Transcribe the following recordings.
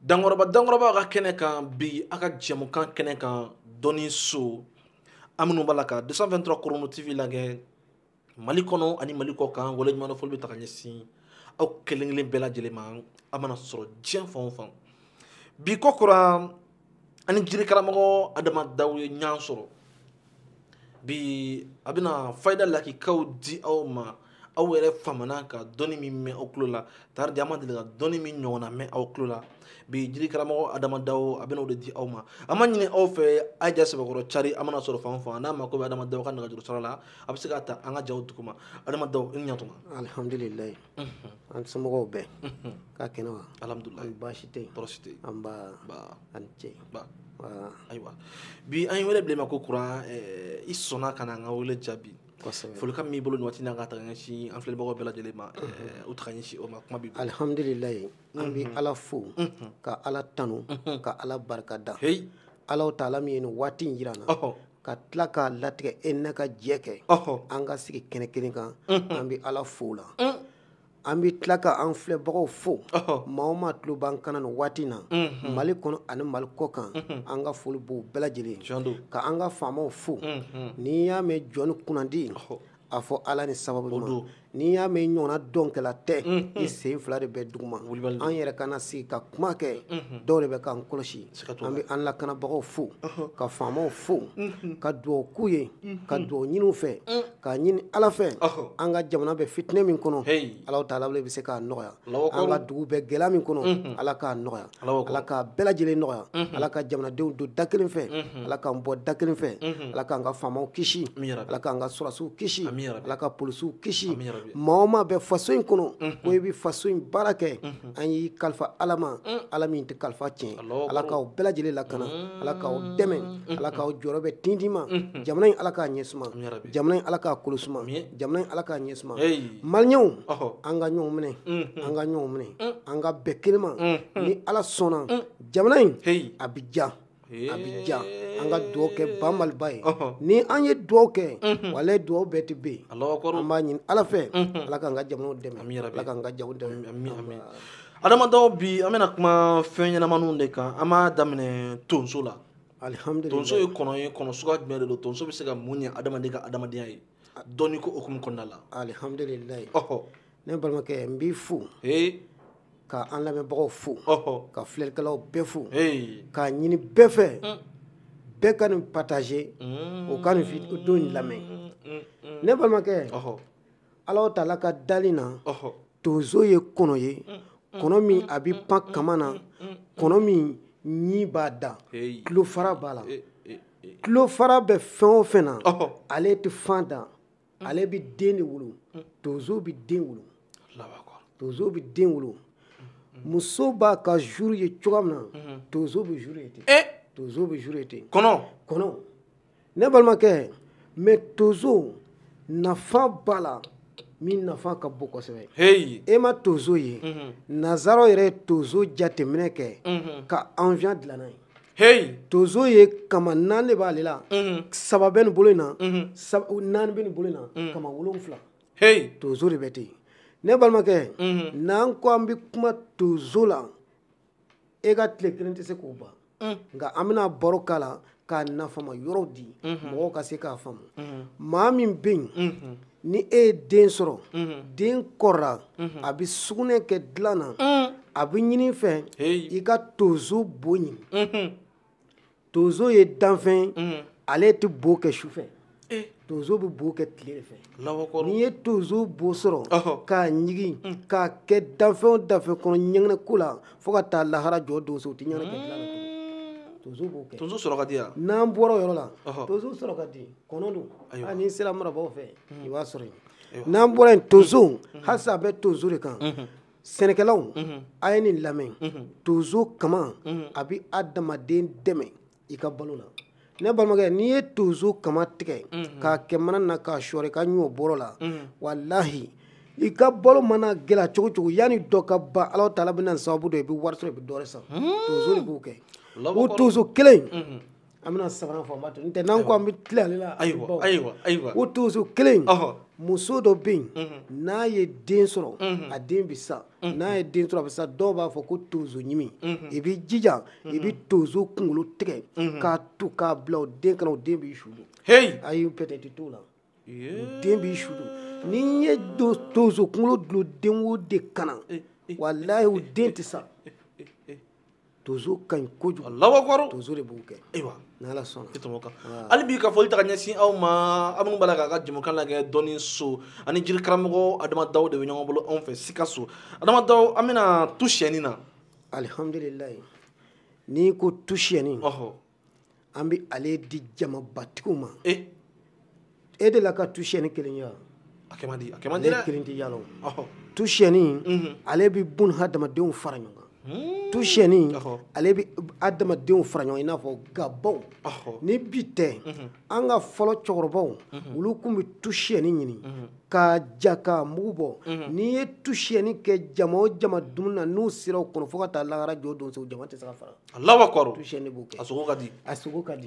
dankɔrɔba dankɔrɔba ka kɛnɛ kan bi a ka jɛmukan kɛnɛ kan dɔnni so aw minnu b'a la ka 223 korono tv lagɛ mali kɔnɔ ani mali kɔ kan waleɲumandɔn foli bɛ taga ɲɛsin aw kelen kelen bɛɛ lajɛlen ma aw mana sɔrɔ diɲɛ fan o fan bi kokura an ni jiri karamɔgɔ adama daw ye ɲɔgɔn sɔrɔ bi a bɛna fayida lakikaw di aw ma aw yɛrɛ famana ka dɔnni min mɛn aw tulo la tari di aw ma deli ka dɔnni min ɲɔgɔnna mɛn aw tulo la bi jiri karamɔgɔ adama daw a bɛna o de di aw ma an b'a ɲini aw fɛ a' ja sɛbɛkɔrɔ cari aw mana sɔrɔ fan o fan n'aw mako bɛ adama daw ka nɛgɛjuru sɔrɔ la aw bɛ se k'a ta an ka jaw duguma adama daw i ni ɲatuma alhamdulilayi an somɔgɔw bɛɛ ka kɛnɛ wa alhamdulilayi baasi tɛ yen tɔɔrɔ si tɛ yen nba a ni ce ayiwa bi an ye wele bila i ma kokura eh, i sɔnna ka na an ka wele jaabi folikan min b'i bolo nin waati na ka taga ɲɛsin an filɛbagaw bɛɛ lajɛlen ma eh, u taga ɲɛsin o ma kuma b'i bolo alhamdulilayi an bɛ ala fo ka ala tanu ka ala barika da ala taala min ye nin waati in jira an na ka tila k'a latigɛ e ni ne ka jɛ kɛ an ka sigi kɛnɛ kelen kan an bɛ ala fo o la an bɛ tila ka an filɛbagaw fo maa o maa tulo b'an kan na nin waati na mali kɔnɔ ani mali kɔ kan an ka foli b'o bɛɛ lajɛlen ka an ka faamaw fo n'i y'a mɛn jɔn ni kunnandi a fɔ ala ni sababu ɲuman n'i y'a mɛn ɲɔgɔnna dɔnkɛla tɛ i sen fila de bɛ dugu ma an yɛrɛ ka na sigi ka kuma kɛ dɔw de bɛ k'an kɔlɔsi an bɛ an lakanabagaw fo ka faamaw fo ka dugawu k'u ye ka dugawu ɲini u fɛ k'a ɲini ala fɛ an ka jamana bɛ fitinɛ min kɔnɔ ala taala bɛ se k'a nɔgɔya an ka dugu bɛ gɛlɛya min kɔnɔ ala k'a nɔgɔya ala k'a bɛɛ lajɛlen nɔgɔya ala ka jamanadenw don da kelen fɛ ala k'an bɔ da kelen fɛ ala k'an ka faamaw kisi ala k'an ka sɔrɔdasiw kisi ala ka polisiw kisi maa o maa bɛ faso in kɔnɔ ko i bɛ faso in baara kɛ an y'i kalifa ala ma ala min tɛ kalifa tiɲɛ ala k'aw bɛɛ lajɛlen lakana ala k'aw dɛmɛ ala k'aw jɔyɔrɔ bɛn tintin ma jamana in ala k'a ɲɛ suma jamana in ala k'a kolo suma jamana in ala k'a ɲɛ suma maliyɛnw an ka ɲɔgɔn minɛ an ka ɲɔgɔn minɛ an ka bɛn kelen ma ni ala sɔnna jamana in a bɛ diya a bɛ diya an ka dugawu kɛ ba maliba ye ni an ye dugawu kɛ walayi dugawu bɛɛ tɛ bin an b'a ɲini ala fɛ ala k'an ka jamana dɛmɛ ala k'an ka jago dɛmɛ adama daw bi an bɛna kuma fɛn ɲɛnamaniw de kan an b'a daminɛ tonso la alihamudulila tonso ye kɔnɔ ye kɔnɔ suguya jumɛn de don tonso bɛ se ka mun ɲɛ adamaden ka adamadenya ye dɔnni ko hukumu kɔnɔna la alihamdulilayi ɔhɔ ne balimakɛ n b'i fo ka an lamɛnbagaw fo ka filɛlikɛlaw bɛɛ fo k'a ɲini bɛɛ fɛ mm. bɛɛ ka nin pataze mm. o ka nin don in lamɛn mm, ne balimakɛ ala o taala ka dali na tonso ye kɔnɔ ye kɔnɔ min a bɛ pan kama na kɔnɔ min ɲi b'a da tulo fara b'a la tulo fara bɛ fɛn o fɛn na ale tɛ fan da ale bɛ den de wolo tonso bɛ den wolo tonso bɛ den wolo muso b'a ka zuru ye cogo min na tonso bɛ zuru ye ten tonso bɛ zuru ye ten kɔnɔ kɔnɔ ne balimakɛ mɛ tonso nafa b'a la min nafa ka bon kosɛbɛ e ma tonso ye nazaraw yɛrɛ ye tonso jateminɛ kɛ ka awiyɔn dilan n'a ye heyi tonso ye kama naani de b'ale la mhm. saba bɛ nin bolo in na mhm. naani bɛ nin bolo in na mhm. kama wolonfila heyi tonso de bɛ ten ne balimakɛ n'an ko an bɛ kuma tonso la e ka tile kelen tɛ se k'o ban mm. nka an bɛna baro k'a la k'a nafama yɔrɔw di mɔgɔw ka se k'a faamu maa min bɛ yen ni e ye den sɔrɔ den kɔrɔra a bɛ sugunɛ kɛ dilan na a bɛ ɲini fɛ i ka tonso bo ɲini tonso ye danfɛn ale tɛ bo kɛ su fɛ tonso bɛ bo kɛ tile de fɛ n'i ye tonso bo sɔrɔ k'a ɲigin k'a kɛ danfɛn o danfɛn kɔnɔ ɲɛgɛnɛ ko la fo ka taa lahara jɔ tonso o tɛ ɲɛgɛnɛ kɛ dilan na tonso b'o kɛ tonso sɔrɔ ka di yan n'an bɔra o yɔrɔ la tonso sɔrɔ ka di kɔnɔ don hali n'i sera marabaw fɛ i b'a sɔrɔ yen n'an bɔra yen tonso halisa a bɛ tonso de kan sɛnɛkɛlaw a ye nin lamɛn tonso kama a bɛ adamaden dɛmɛ i ka balo la ne balimakɛ n'i ye tonso kama tigɛ k'a kɛ mana na k'a sɔɔri i ka ɲɔ bɔrɔ la walahi i ka balo mana gɛlɛya cogo o cogo yanni dɔ ka ban ala taala bɛna sababu dɔ i bɛ wari sɔrɔ i bɛ dɔ wɛrɛ san tonso de b'o kɛ o tonso kelen An bɛna sabanan fɔ n tɛ n'an ko an bɛ tilen ale la ayiwa ayiwa ayiwa o tonso kelen muso dɔ bɛ yen n'a ye den sɔrɔ a den bɛ sa n'a ye den sɔrɔ a bɛ sa dɔw b'a fɔ ko tonsoɲimi i b'i jija i bɛ tonso kunkolo tigɛ k'a tu k'a bila o den kan na o den b'i su don ayi petɛtiri t'o la o den b'i su don n'i ye tonso kunkolo dulon den o den kan na walayi o den tɛ sa tonso ka ɲi kojugu Alahu akibaru tonso de b'o kɛ ayiwa ni Ala sɔnna i tɔmɔ kan hali bi ka foli ta ka ɲɛsin aw ma aw minnu b'a la k'an ka jɛmukan lagɛ dɔnni so ani jiri karamɔgɔ Adama Dawu de bɛ ɲɔgɔn bolo anw fɛ Sikaso Adama Dawu an bɛna tu siyɛni na alihamdulilayi n'i ko tu siyɛni ɔhɔ an bɛ ale di jamabatigiw ma e e de la ka tu siyɛni kelen ye wa a kɛ man di a kɛ man di dɛ kelen tɛ yala o tu siyɛni mhm. ale bɛ bun hadamadenw fara ɲɔgɔn kan hmm. tu siyɛni ale bɛ hadamadenw fara ɲɔgɔn i n'a fɔ gabaw ni bi tɛ mhm. an ka fɔlɔ cɛkɔrɔbaw mhm. olu tun bɛ tu siyɛni ɲini k'a ja k'a mugu bɔ n'i ye tu siyɛni kɛ jama o jama dumuni na n'u sera o kɔnɔ fo ka taa lahara jɔ don se o jama tɛ se ka fara Alahu akibaru tu siyɛni b'o kɛ a sogo ka di a sogo ka di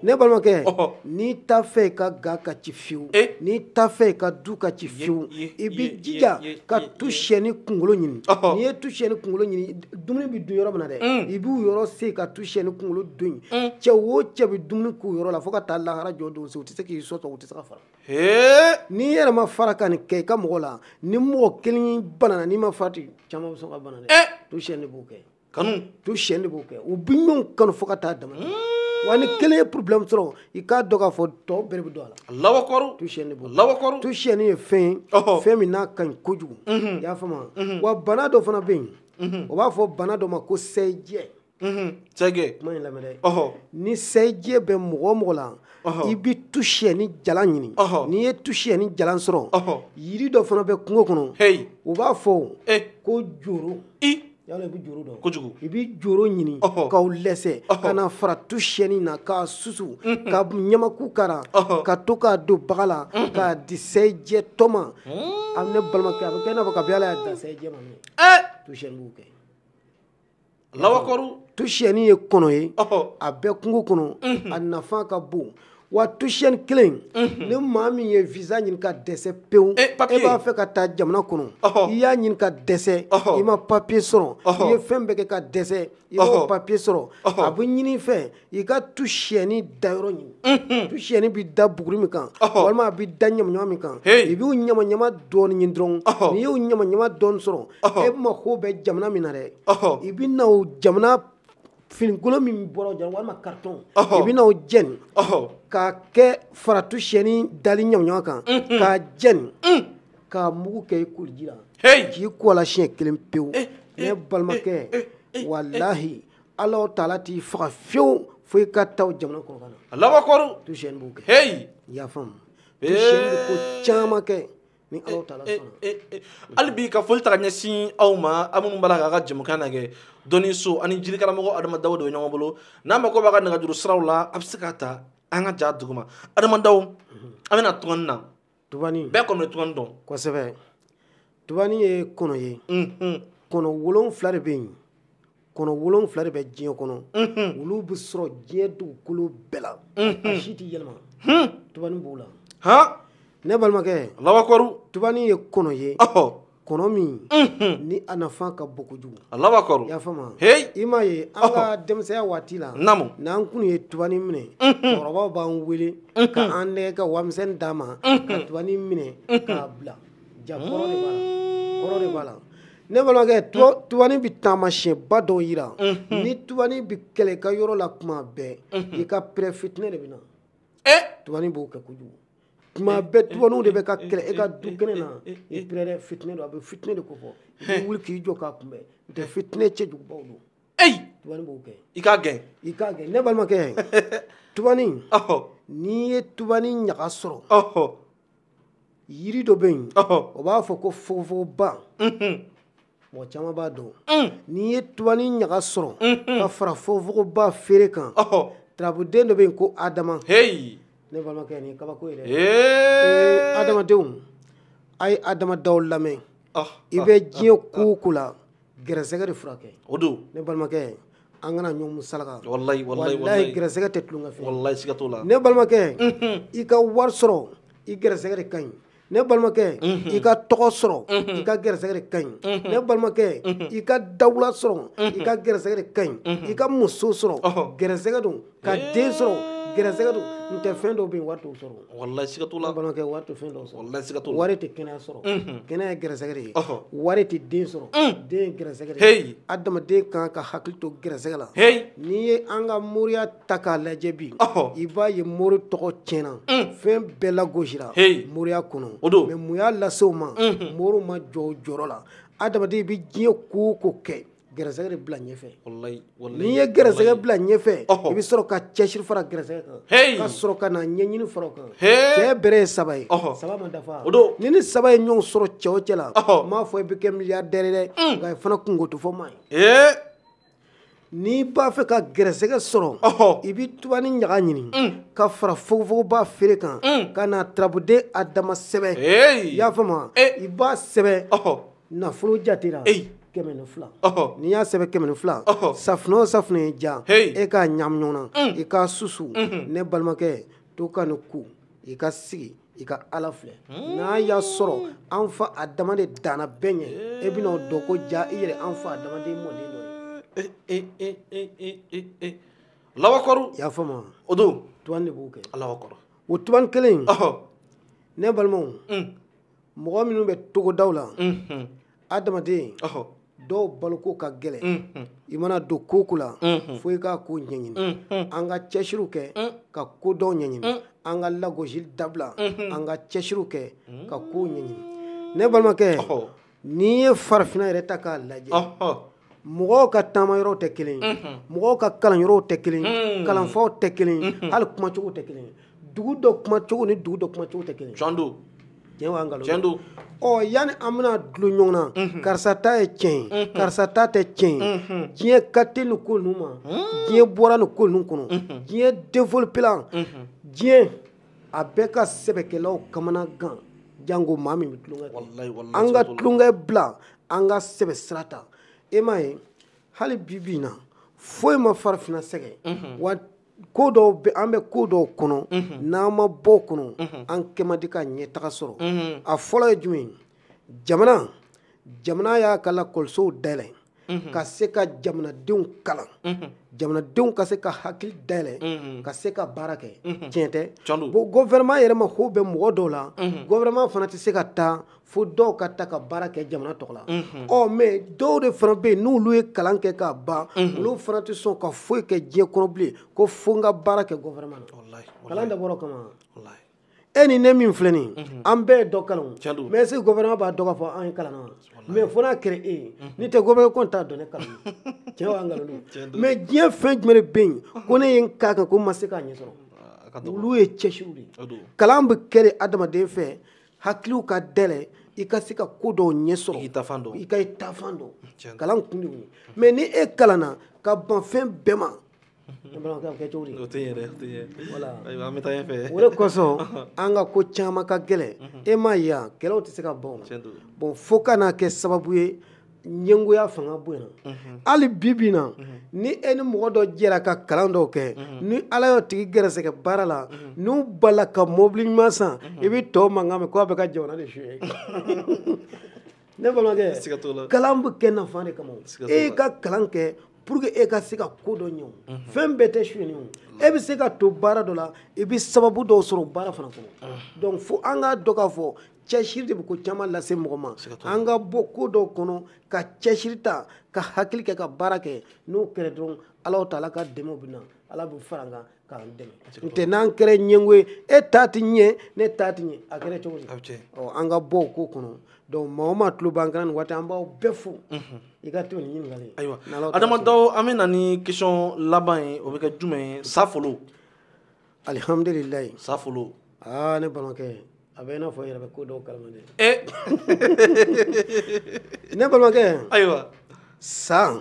ne balimakɛ n'i t'a fɛ i ka ga ka ci fiyewu eh? n'i t'a fɛ i ka du ka ci fiyewu i b'i jija ka tu siyɛni kunkolo ɲini n'i ye tu siyɛni kunkolo ɲini dumuni bɛ dun yɔrɔ min na dɛ mm. i b'o yɔrɔ sen ka tu siyɛni kunkolo don yen mm. cɛ o cɛ bɛ dumuni k'o yɔrɔ la fo ka taa lahara jɔ don se u tɛ se k'i sɔsɔ u tɛ se ka fara n'i yɛrɛ ma fara ka nin kɛ i ka mɔgɔ la ni mɔgɔ kelen banana n'i ma farati caman bɛ sɔn ka bana dɛ eh? tu siyɛni b'o kɛ kanu tu siyɛni de b'o kɛ u bɛ ɲɔgɔn kanu fo ka taa dama wa ni kelen ye problème sɔrɔ i k'a dɔn k'a fɔ tɔ bɛɛ de bɛ don a la Alahu akibaru tu siyɛni de b'o kɛ Alahu akibaru tu siyɛni ye fɛn ye Ɔhɔ. fɛn min n'a ka ɲi kojugu i y'a faamu wa wa bana dɔ fana bɛ yen o b'a fɔ bana dɔ ma ko sɛjɛ Mhm, sɛgɛ kuma in lamɛn dɛ ɔhɔ ni sɛjɛ bɛ mɔgɔ o mɔgɔ la Ɔhɔ. i bɛ tu siyɛni jalan ɲini Ɔhɔ. n'i ye tu siyɛni jalan sɔrɔ Ɔhɔ. yiri dɔ fana bɛ kungo kɔnɔ heyi o b'a fɔ e ko joro i yala i bɛ joro dɔn kojugu i bɛ joro ɲini k'o lɛsɛ ka na fara tu siyɛni na k'a susu ka ɲamaku k'a ra ka to k'a don baga la k'a di sɛjɛtɔ ma a ne balimakɛ a bɛ kɛ i n'a fɔ kabi ala y'a dan sɛjɛ ma tu siyɛni b'o kɛ Alahu akibaru tu siyɛni ye kɔnɔ ye a bɛ kungo kɔnɔ a nafa ka bon wa tu siyɛni kelen ni maa min ye visa ɲini ka dɛsɛ pewu e b'a fɛ ka taa jamana kɔnɔ i y'a ɲini ka dɛsɛ i ma papiye sɔrɔ i ye fɛn bɛɛ kɛ ka dɛsɛ i m'o papiye sɔrɔ a bɛ ɲini i fɛ i ka tu siyɛni dayɔrɔ ɲini tu siyɛni bɛ da buguri min kan walima a bɛ da ɲamaɲama min kan i b'o ɲamaɲama dɔɔnin ɲini dɔrɔn n'i y'o ɲamaɲama dɔɔnin sɔrɔ e mako bɛ jamana min na dɛ i bɛ na o jamana finikolon min bɔra yen walima karitɔn i bɛna o jɛni k'a kɛ fara tu siyɛni dali ɲamaɲama kan k'a jɛni k'a mugu kɛ i koliji la k'i ko a la siɲɛ kelen pewu eh, ne eh, balimakɛ eh, walahi ala taala t'i faga fiyewu fo i ka taa o jamana kɔnɔ ka na Alahu akibaru tu siyɛni b'o kɛ i y'a faamu tu siyɛni bɛ ko caman kɛ ni Alahu taala eh, sɔnna eh, eh, hali bi ka foli ta ka ɲɛsin aw ma aw minnu b'a la k'an ka jɛmukan lajɛ dɔnniso ani jirikaramɔgɔ adama dawo de bɛ ɲɔgɔn bolo n'aw mako b'a ka nɛgɛjuru siraw la a bɛ se k'a ta an ka ja duguma adama dawo an bɛna tugani na tubani bɛɛ kɔni bɛ tugani dɔn kosɛbɛ tubani ye kɔnɔ ye kɔnɔ wolonfila de bɛ yen kɔnɔ wolon fila de bɛ diɲɛ kɔnɔ olu bɛ sɔrɔ diɲɛ dugukolo bɛɛ la a si tɛ yɛlɛma tubani b'o la ne balimakɛ alahu akibaru tubani ye kɔnɔ ye kɔnɔ min ni a nafa ka bon kojugu alahu akibaru y'a faamu i m'a ye an ka denmisɛnya waati la naamu n'an kun ye tubani minɛ cɛkɔrɔbaw b'an wele k'an nɛgɛ ka warimisɛnnin d'an ma ka tubani minɛ k'a bila ja kɔrɔ de b'a la kɔrɔ de b'a la ne balimakɛ tubanin bɛ taamasiɲɛba dɔw yira ni tubanin bɛ kɛlɛ i ka yɔrɔ la tuma bɛɛ i ka pɛrɛ fitinɛ de bɛ na tubanin b'o kɛ kojugu tuma bɛɛ tubaninw de bɛ ka kɛlɛ e ka du kɛnɛ na i pɛrɛ fitinɛ don a bɛ fitinɛ de kofɔ i bɛ wuli k'i jɔ k'a kunbɛn n'o tɛ fitinɛ cɛjugubaw don tubanin b'o kɛ i k'a gɛn i k'a gɛn ne balimakɛ tubanin n'i ye tubanin ɲaga sɔrɔ yiri dɔ bɛ yen o b'a fɔ ko fogofogoba mɔgɔ caman b'a dɔn n'i ye tubanin ɲaga sɔrɔ ka fara fogofogoba feere kan turabuden dɔ bɛ yen ko adama ne balimakɛ nin ye kabako ye dɛ adamadenw a ye adama dawu lamɛn i bɛ diɲɛ ko o ko la gɛrɛsɛgɛ de furakɛ o don ne balimakɛ an kana ɲɔgɔn musalaka wallahi wallahi wallahi gɛrɛsɛgɛ tɛ tulonkɛ fɛn wallahi siga t'o la ne balimakɛ mhm. i ka wari sɔrɔ i gɛrɛsɛgɛ de ka ɲi ne balimakɛ mhm. i ka tɔgɔ sɔrɔ mhm. i ka gɛrɛsɛgɛ de ka ɲi ne balimakɛ i ka dawula sɔrɔ i ka gɛrɛsɛgɛ de ka ɲi i ka muso sɔrɔ gɛrɛsɛgɛ don ka den sɔrɔ gɛrɛsɛgɛ don n tɛ fɛn dɔw bɛ yen wari t'o sɔrɔ walahi siga t'o la ne balimakɛ wari tɛ fɛn dɔw sɔrɔ walahi siga t'o la wari tɛ kɛnɛya sɔrɔ kɛnɛya ye gɛrɛsɛgɛ de ye wari tɛ den sɔrɔ den ye gɛrɛsɛgɛ de ye adamaden kan ka hakili to gɛrɛsɛgɛ la n'i ye an ka moriya ta k'a lajɛ bi i b'a ye mori tɔgɔ tiɲɛna fɛn bɛɛ lagosira moriya kɔnɔ o don mɛ mun y'a lase o ma moriw ma jɔ o jɔyɔrɔ la adamaden i bɛ diɲɛ ko o ko kɛ gɛrɛsɛgɛ de bila ɲɛfɛ wallahi wallahi n'i ye gɛrɛsɛgɛ bila ɲɛfɛ i bɛ sɔrɔ ka cɛsiri fara gɛrɛsɛgɛ kan ka sɔrɔ ka na ɲɛɲini fara o kan cɛ bɛrɛ ye saba ye saba ma dafa ni nin saba ye ɲɔgɔn sɔrɔ cɛ o cɛ la n m'a fɔ i bɛ kɛ miliyardɛri dɛ mm. nka i fana kunko tɛ fɔ maa ye n'i b'a fɛ ka gɛrɛsɛgɛ sɔrɔ i bɛ tubani ɲaga ɲini mm. ka fara fogofogoba feere kan mm. ka na turabuden adama sɛbɛn i y'a faamu eh. i b'a sɛbɛn nafolo jatera kɛmɛ ni fila n'i y'a sɛbɛn kɛmɛ ni fila safunɛ o safunɛ y'i diya e k'a ɲagami ɲɔgɔn na i k'a susu ne balimakɛ to ka nin ko i ka sigi i ka ala filɛ n'a y'a sɔrɔ an fa adama de danna bɛɛ ɲɛ e bɛna o dɔn ko ja i yɛrɛ an fa adama mɔden dɔ ye alahu akibaru i y'a faamu o don tubani de b'o kɛ alahu akibaru o tubani kelen ne balimaw mɔgɔ minnu bɛ togodaw la adamaden dɔw baloko ka gɛlɛn i mana don ko ko la fo i k'a ko ɲɛɲini an ka cɛsiriw kɛ ka ko dɔw ɲɛɲini an ka lagosi dabila an ka cɛsiriw kɛ ka ko ɲɛɲini ne balimakɛ n'i ye farafinna yɛrɛ ta k'a lajɛ mɔgɔw ka taama yɔrɔw tɛ kelen mɔgɔw ka kalan yɔrɔw tɛ kelen kalanfaw tɛ kelen ye hali kumacogo tɛ kelen dugu dɔ kumacogo ni dugu dɔ kumacogo tɛ kelen tiɲɛ don tiɲɛ wa nkalon tiɲɛ don ɔ yanni an bɛna dulon ɲɔgɔn na karisa ta ye tiɲɛ ye karisa ta tɛ tiɲɛ ye diɲɛ ka teli nin ko ninnu ma diɲɛ bɔra nin ko ninnu kɔnɔ diɲɛ développéla diɲɛ a bɛɛ ka sɛbɛkɛlaw kamana gan janko maa min bɛ tulonkɛ kɛ an ka tulonkɛ bila an ka sɛbɛ sira ta e m'a ye hali bi bi in na foyi ma farafinna sɛgɛn mhm. wa ko dɔw bɛ an bɛ ko dɔw kɔnɔ mhm. n'an ma bɔ o kɔnɔ mhm. an kɛ man di ka ɲɛtaga sɔrɔ a fɔlɔ ye jumɛn jamana jamana y'a ka lakɔlisow dayɛlɛ mhm. ka se ka jamanadenw kalan mhm. jamanadenw ka se ka hakili dayɛlɛ mhm. ka se ka baara kɛ tiɲɛ tɛ bon gɔvɛrɛman yɛrɛ mako bɛ mɔgɔ dɔw la gɔvɛrɛman fana tɛ se ka taa fo dɔw ka ta ka baara kɛ jamana tɔgɔ la ɔ mɛ dɔw de fana bɛ yen n'olu ye kalan kɛ k'a ban olu fana tɛ sɔn ka foyi kɛ diɲɛ kɔnɔ bilen ko fo n ka baara kɛ gɔvɛrɛman na kalan dabɔra o kama e ni ne min filɛ nin mhm. an bɛɛ ye dɔ kalan mɛ est-ce que gɔvɛrɛman b'a dɔn k'a fɔ an ye kalan na mɛ fo n'a kɛra e ye mhm. n'i tɛ gɔvɛrɛman kɔni t'a dɔn ne kalan tiɲɛ wa nkalon mɛ diɲɛ fɛn jumɛn de bɛ yen ko ne ye n k'a kan ko n ma se k'a ɲɛ sɔrɔ ah, olu ye cɛsiriw de ye kalan bɛ kɛ de adamaden fɛ hakiliw ka dɛlɛ i ka se ka ko dɔw ɲɛ sɔrɔ i ka i taafan dɔn kalan kun de y'o ye mɛ ni e kalanna ka ban fɛn bɛɛ ma ne balimakɛ a bɛ kɛ cogo di o tɛ ɲɛ dɛ o tɛ ɲɛ voilà ayiwa an bɛ taa ɲɛfɛ o de kosɔn an ka ko caman ka gɛlɛn e m'a ye yan kɛlɛw tɛ se ka ban o tiɲɛ don bon fo ka n'a kɛ sababu ye ɲɛngoya fanga bonyana hali bi bi in na ni e ni mɔgɔ dɔ jɛra ka kalan dɔw kɛ ni ala y'o tigi gɛrɛsɛgɛ baara la n'u bala ka mobili ɲuman san i bɛ tɔw mankan mɛn ko a bɛ ka jamana de suyɛ ne balimakɛ siga t'o la kalan bɛ kɛ nafa de kama e y'i ka kalan kɛ pour que e ka se ka ko dɔ ɲɛ o mhm. fɛn bɛɛ tɛ suyɛni o e bɛ se ka to baara dɔ la i bɛ sababu dɔw sɔrɔ baara fana kɔnɔ ah. donc fo an k'a dɔn k'a fɔ cɛsiri de bɛ ko caman lase mɔgɔ ma an ka bɔ ko dɔw kɔnɔ ka cɛsiri ta ka hakili kɛ ka baara kɛ n'o kɛra dɔrɔn ala taala ka dɛmɛw bɛ na ala bɛ fara an kan tɛ n'an kɛra ɲɛngo ye e ta tɛ ɲɛ ne ta tɛ ɲɛ a kɛra cogo di an ka bɔ ko kɔnɔ dɔnku maa o maa tulo b'an kan nin waati an b'aw bɛɛ fo i ka tɛmɛ ni ɲininkali ayiwa adamadaw an bɛ na ni kɛsiyɔn laban ye o bɛ kɛ jumɛn ye safolo alihamdulilayi safolo aa ne balimakɛ a bɛ i n'a fɔ i yɛrɛ bɛ ko dɔw kalama dɛ ne balimakɛ ayiwa sa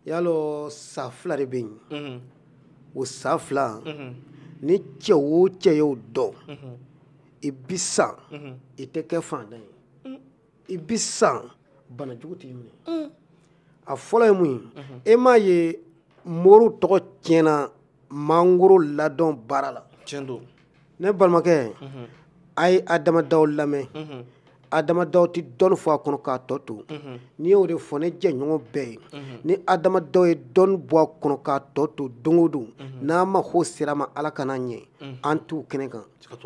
y'a lɔ sa fila de bɛ yen o sa fila ni cɛ o cɛ y'o dɔn i bi sa i tɛ kɛ fantan ye i bi sa banajugu t'i minɛ a fɔlɔ ye mun ye e m'a ye moriw tɔgɔ tiɲɛna mangoro ladɔn baara la tiɲɛ don ne balimakɛ mhm. a ye adamadaw lamɛn mhm. adamadaw tɛ dɔnni fɔ a kɔnɔ k'a tɔ to mhm. n'i y'o de fɔ ne jɛɲɔgɔn bɛɛ ye ni adamadaw ye dɔnni bɔ a kɔnɔ k'a tɔ to don o don n'an mago sera ma ala kana ɲɛ an t'u kɛnɛ kan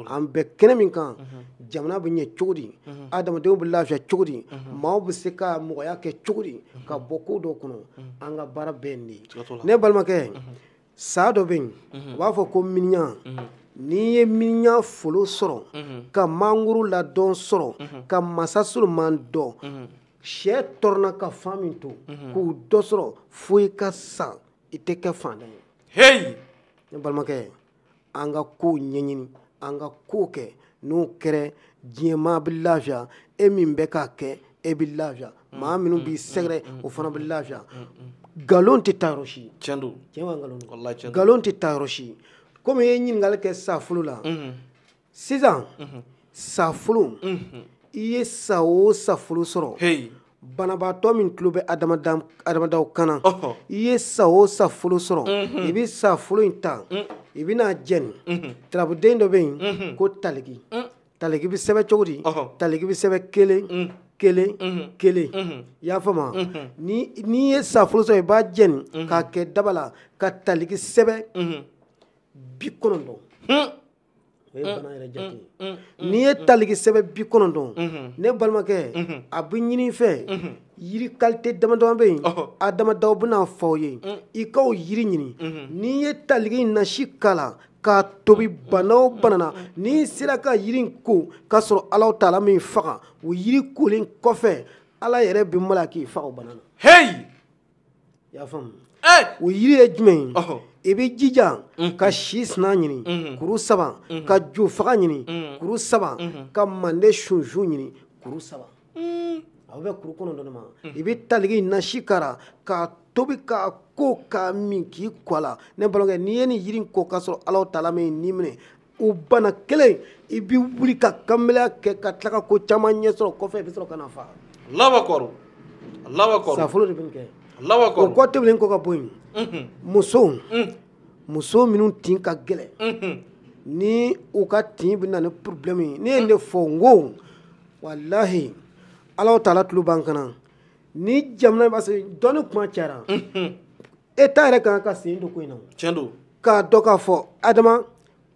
an bɛ kɛnɛ min kan jamana bɛ ɲɛ cogo di adamadenw bɛ lafiya cogo di maaw bɛ se ka mɔgɔya kɛ cogo di ka bɔ ko dɔ kɔnɔ an ka baara bɛɛ nin de ye ne balimakɛ sa dɔ bɛ yen u b'a fɔ ko miniɲan n'i ye miniɲan folo sɔrɔ ka mangoro ladɔn sɔrɔ ka masa solomani dɔn sɛ tɔɔrɔna ka fa min to k'u dɔ sɔrɔ fo i ka sa i tɛ kɛ fantan ye h ne balimakɛ an ka ko ɲɛɲini an ka ko kɛ n'o kɛra diɲɛ maa bɛ lafiya e min bɛ k'a kɛ e bɛ lafiya maa minnu b'i sɛgɛrɛ o fana bɛ lafiya nkalon tɛ taa yɔrɔ si tiɲɛ don tiɲɛ b'a nkalon don walahi tiɲɛ don nkalon tɛ taa yɔrɔ si komi i ye ɲininkali kɛ safolo la sisan safolo i ye sa o safolo sɔrɔ banabaatɔ min tulo bɛ adamadaw kan na i ye sa o safolo sɔrɔ i bɛ safolo in ta i bɛn'a jeni tarabuden dɔ bɛ yen ko taliki taliki bɛ sɛbɛn cogo di taliki bɛ sɛbɛn kelen kelen kelen i y'a faamu n'i ye safolo sɔrɔ i b'a jeni k'a kɛ daba la ka taliki sɛbɛn bi kɔnɔntɔn o ye mm, bana yɛrɛ jate ye mm, mm, n'i ye taliki sɛbɛn bi kɔnɔntɔn mm-hmm. ne balimakɛ mm-hmm. a bɛ ɲini i fɛ mm-hmm. yiri kalite dama dama bɛ yen adamadaw bɛn'a fɔ aw ye i k'o yiri ɲini n'i ye taliki nasi k'a la k'a tobi bana o bana na n'i sera ka yiri in ko k'a sɔrɔ alahu taala m'i faga o yiri kolen kɔfɛ ala yɛrɛ bɛ malo k'i faga o bana na heyi i y'a faamu o yiri ye jumɛn ye i bɛ jija ka si sina ɲini kuru saba ka jo faga ɲini kuru saba ka mande sunsun ɲini kuru saba a bɛ kuru kɔnɔntɔn de ma i bɛ taliki nasi k'a ra k'a tobi k'a ko k'a min k'i ko a la ne balimakɛ n'i ye nin yiri in ko k'a sɔrɔ Alahu taala m'i ni minɛ o bana kelen i bɛ wuli ka kanbeleya kɛ ka tila ka ko caman ɲɛ sɔrɔ kɔfɛ i bɛ sɔrɔ ka na fa sa folo de bɛ nin kɛ o kɔ tɛmɛnen kɔ ka bɔ yen musow muso minnu tin ka gɛlɛn ni u ka tin bɛ na ni problème ye ne ye nin fɔ n ko walahi Alahu taala tulo b'an kan na ni jamana in b'a sɔrɔ dɔnni kuma cayara État yɛrɛ ka kan ka sen don ko in na tiɲɛ don k'a dɔn k'a fɔ adama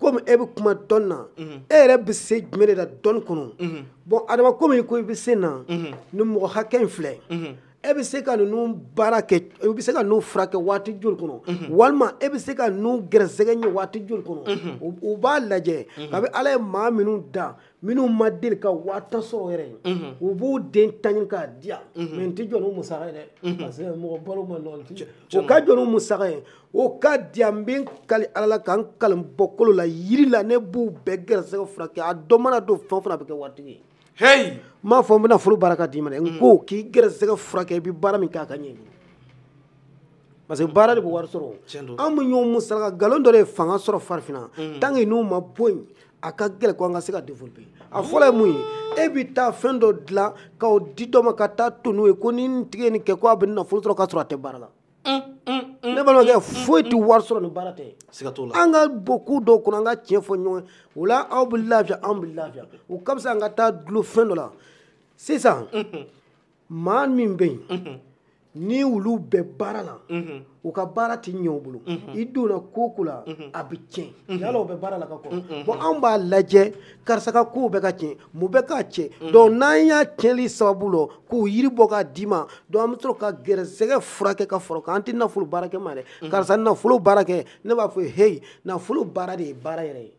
komi e bɛ kuma dɔnni na mhm. e yɛrɛ bɛ se jumɛn de la dɔnni kɔnɔ mhm. bon adama komi ko i bɛ se na mhm. ni mɔgɔ hakɛ in filɛ e bɛ se ka ninnu baara kɛ e bɛ se ka ninnu furakɛ waati joli kɔnɔ walima e bɛ se ka ninnu gɛrɛsɛgɛ ɲɛ waati joli kɔnɔ u b'a lajɛ kabi ala ye maa minnu da minnu ma deli ka waa tan sɔrɔ yɛrɛ u b'u den tan ɲini k'a di yan mais n tɛ jɔ n'u musaka ye dɛ parce que mɔgɔ balo man nɔgɔn ti o ka jɔ n'u musaka ye o ka di yan n bɛ n kali ala la ka n kali n bɔkolo la yiri la ne b'u bɛɛ gɛrɛsɛgɛ furakɛ a dɔ mana don fɛn o fɛn na a bɛ kɛ waritigi ye heyi n m'a fɔ n bɛ nafolo baara k'a d'i ma dɛ n ko k'i gɛrɛsɛgɛ furakɛ i bɛ baara min kɛ a ka ɲɛ i bolo parce que baara de bɛ wari sɔrɔ Tiɲɛ don. an bɛ ɲɔgɔn musalaka nkalon dɔ de ye fanga sɔrɔ farafinna tant que n'u ma bɔ yen a ka gɛlɛn ko an ka se ka développer a fɔlɔ ye mun ye e bɛ taa fɛn dɔ dilan k'o di dɔ ma ka taa to n'o ye ko ni nin tigi ye nin kɛ ko a bɛ nafolo sɔrɔ k'a sɔrɔ a tɛ baara la ne balimakɛ foyi tɛ wari sɔrɔ ni baara tɛ siga t'o la an ka bɔ ko dɔw kɔnɔ an ka tiɲɛ fɔ ɲɔgɔn ye o la aw bɛ lafiya anw bɛ lafiya o ka fisa an ka taa dulon fɛn dɔ la sisan maa min bɛ yen ni olu bɛ baara la u ka baara tɛ ɲɛ u bolo i donna ko ko la a bɛ tiɲɛ yala o bɛ baara la ka kɔrɔ bon anw b'a lajɛ karisa ka kow bɛ ka tiɲɛ mun bɛ k'a tiɲɛ donc n'an y'a tiɲɛli sababu lɔn k'o yiri bɔ k'a d'i ma donc an bɛ sɔrɔ ka gɛrɛsɛgɛ furakɛ ka far'o kan an tɛ nafolo baara kɛ ma dɛ karisa nafolo baara kɛ ne b'a fɔ heyi nafolo baara de ye baara yɛrɛ ye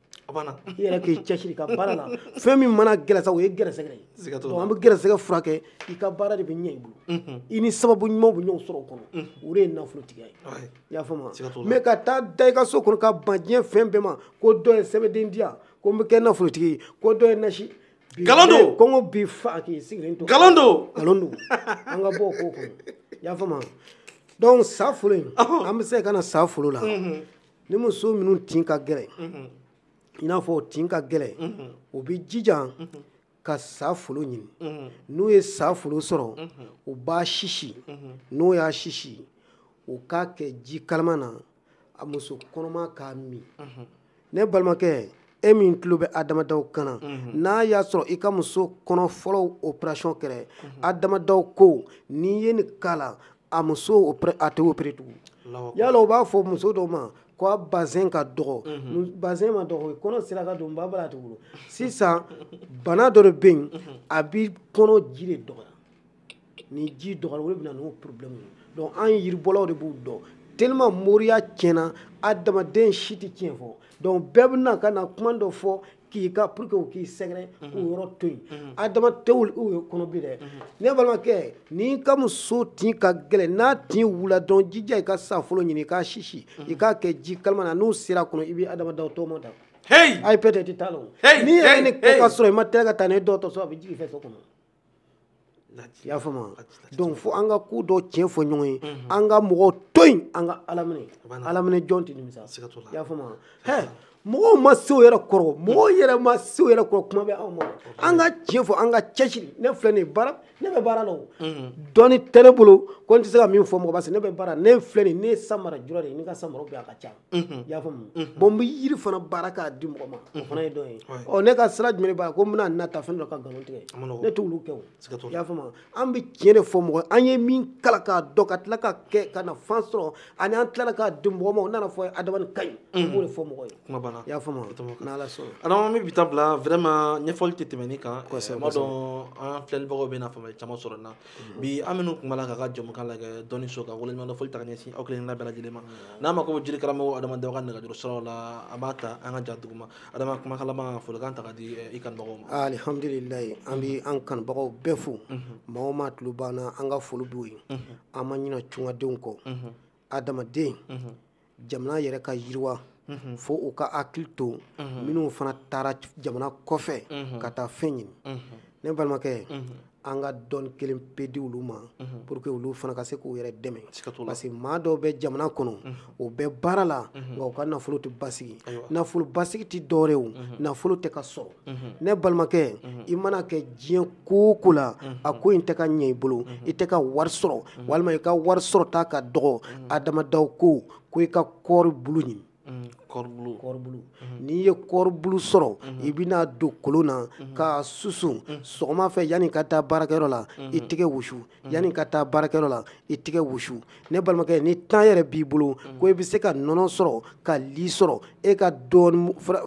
i yɛrɛ k'i cɛsiri ka baara la fɛn min mana gɛlɛya sa o ye gɛrɛsɛgɛ ye an bɛ gɛrɛsɛgɛ furakɛ i ka baara de bɛ ɲɛ i bolo mhm. i ni sababu ɲumanw bɛ ɲɔgɔn sɔrɔ o kɔnɔ mhm. o de ye nafolotigiya ye i y'a faamu mais ka taa da i ka so kɔnɔ ka ban diɲɛ fɛn bɛɛ ma ko dɔ ye sɛbɛnden di yan ko n bɛ kɛ nafolotigi ye ko dɔ ye nasi nkalon don kɔngɔ b'i fa k'i sigilen to nkalon don nkalon don an ka bɔ o ko kɔnɔ i y'a faamu donc sa folo in an bɛ se ka na sa folo la mhm. ni muso minnu tin ka gɛlɛn i n'a fɔ u tin ka gɛlɛn u bɛ jijan ka sa folo ɲini n'u ye sa folo sɔrɔ u b'a sisi n'u y'a sisi u k'a kɛ ji kalama na a muso kɔnɔma k'a min ne balimakɛ e min tulo bɛ adamadaw kan na n'a y'a sɔrɔ i ka muso kɔnɔ fɔlɔw operasiyɔn kɛra adamadaw ko n'i ye nin k'a la a muso o pre- a tɛ opere tugun Allahu akbar. yala u b'a fɔ muso dɔ ma ko a bazɛn ka dɔgɔ Mu- bazɛn ma dɔgɔ kɔnɔ sira ka don ba bala a tɛ wolo sisan bana dɔ de bɛ yen a bɛ kɔnɔ ji de dɔgɔya ni ji dɔgɔyara o de bɛ na n'o problème ye donc an yiribɔlaw de b'u dɔn tellement moriya tiɲɛna adamaden si tɛ tiɲɛ fɔ donc bɛɛ bɛ na ka na kuma dɔ fɔ k'i ka pour que u k'i sɛgɛrɛ mhm. k'o yɔrɔ to yen mhm. adama tɛ olu ye kɔnɔ bi dɛ mhm. ne balimakɛ n'i ka muso tin ka gɛlɛn n'a tin wula dɔrɔn jija i ka sa folo ɲini i k'a sisi i k'a kɛ ji kalama na n'o sera kɔnɔ i bɛ adama daw tɔgɔma da ayi peut-être t'a la o n'i ye nin kɛ ka sɔrɔ i ma teliya ka taa n'a ye dɔgɔtɔrɔso a bɛ jigin i fɛ so kɔnɔ i y'a faamu donc fo an ka ko dɔ tiɲɛ fɔ ɲɔgɔn ye mhm. an ka mɔgɔw to yen an ka ala minɛ ala minɛ jɔn tɛ nimisa i y'a faamu hɛ mɔgɔw ma se o yɛrɛ kɔrɔ mɔgɔw yɛrɛ ma se o yɛrɛ kɔrɔ kuma bɛ anw ma an ka tiɲɛ fɔ an ka cɛsiri ne filɛ nin ye baara ne bɛ baara la o mhm. dɔnni tɛ ne bolo ko n tɛ se ka min fɔ mɔgɔ parce que ne bɛ baara ne filɛ nin ye ne ye samara jura de ye ne ka samaraw bɛ a ka ca i y'a faamu bon n bɛ yiri fana baara k'a di mɔgɔ ma o fana ye dɔ ye ɔ ne ka sira jumɛn b'a ko n bɛna nata fɛn dɔ ka nkalon tigɛ ne t'olu kɛ o i y'a faamu an bɛ tiɲɛ de fɔ mɔgɔ an ye min kalan k'a dɔn ka tila k'a kɛ k'a nafa sɔrɔ ani an tilala k'a di mɔgɔ ma o nana fɔ adama nin ka ɲi an b'o de fɔ mɔgɔ ye kuma banna i y'a faamu n'ala sɔnna adama an bɛ bi ta bila vraiment ɲɛfɔli tɛ tɛmɛ nin kan kosɛbɛ n b'a dɔn an filɛlibagaw bɛna faamuya caman sɔrɔ nin na bi an minnu tun b'a la k'a ka jɛmukan lajɛ dɔnniso ka waleɲuman foli taa ka ɲɛsin aw kelen bɛɛ lajɛlen ma n'a mako bɛ jiri karamɔgɔ adamadaw ka nɛgɛjuru siraw la a b'a ta an ka ja duguma adama kumakan laban folikan ta k'a di eh, i kanubagaw ma alihamdulilayi an bɛ an kanubagaw bɛɛ fo maa o maa tulo b'an na an ka foli b'u ye an ma ɲinɛ tungadenw kɔ adamaden jamana yɛrɛ ka yiriwa mhm. fo u ka hakili to mhm. minnu fana taara jamana kɔfɛ mhm. ka taa fɛn ɲini ne balimakɛ an ka dɔnni kelen pe di olu ma pour que olu fana ka se k'u yɛrɛ dɛmɛ parce que maa dɔw bɛ jamana kɔnɔ u bɛ baara la nka u ka nafolo tɛ basigi nafolo basigi tɛ dɔw yɛrɛ o nafolo tɛ ka sɔrɔ ne balimakɛ i mana kɛ diɲɛ ko o ko la a ko in tɛ ka ɲɛ i bolo i tɛ ka wari sɔrɔ walima i ka wari sɔrɔta ka dɔgɔ adamadaw ko ko i ka kɔɔri bulu ɲini kɔɔri bulu n'i ye kɔɔri bulu sɔrɔ i bɛn'a don kolon na k'a susu sɔgɔma fɛ yanni i ka taa baarakɛyɔrɔ la i tɛgɛ wusu Mm-hmm. yanni ka taa baarakɛyɔrɔ la i tɛgɛ wusu ne balimakɛ ni temps yɛrɛ b'i bolo mm-hmm. ko i bɛ se ka nɔnɔ sɔrɔ ka li sɔrɔ e ka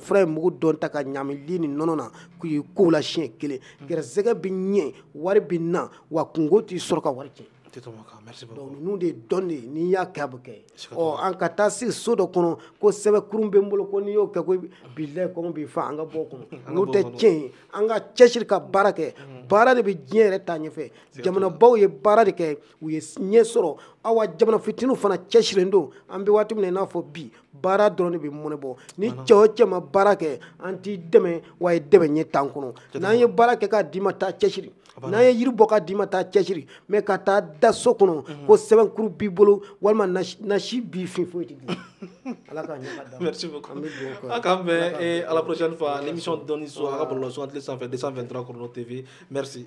furamugu dɔ ta ka ɲaami li ni nɔnɔ na k'i ko la siɲɛ kelen mm-hmm. gɛrɛsɛgɛ bɛ ɲɛ wari bɛ na wa kunko t'i sɔrɔ ka wari cɛ ninnu de don dɛ n'i y'a kɛ a bɛ kɛ ɔ an ka taa sigi so dɔ kɔnɔ ko sɛbɛnkuru bɛ n bolo ko n'i y'o kɛ ko bilayi kɔngɔ b'i fa an ka bɔ o kɔnɔ n'o tɛ tiɲɛ ye an ka cɛsiri ka baara kɛ baara de bɛ diɲɛ yɛrɛ taa ɲɛfɛ jamanabaw ye baara de kɛ u ye ɲɛ sɔrɔ awa jamana fitininw fana cɛsirilen don an bɛ waati min na i n'a fɔ bi baara dɔrɔn de bɛ mɔnɛ bɔ ni cɛ o cɛ ma baara kɛ an t'i dɛmɛ wa i dɛmɛ ɲɛ t'an kɔnɔ n'an ye baara kɛ k'a d'i ma taa cɛsiri n'an ye yiri bɔ k'a d'i ma taa cɛsiri mais ka taa da so kɔnɔ mhm. ko sɛbɛnkuru b'i bolo walima nasi b'i fɛ foyi tɛ ala k'an bɛn eh, à la prochaine fois l'émission dɔnni so a ka bɔlɔlɔ sugandilen sanfɛ 223 chrono tv merci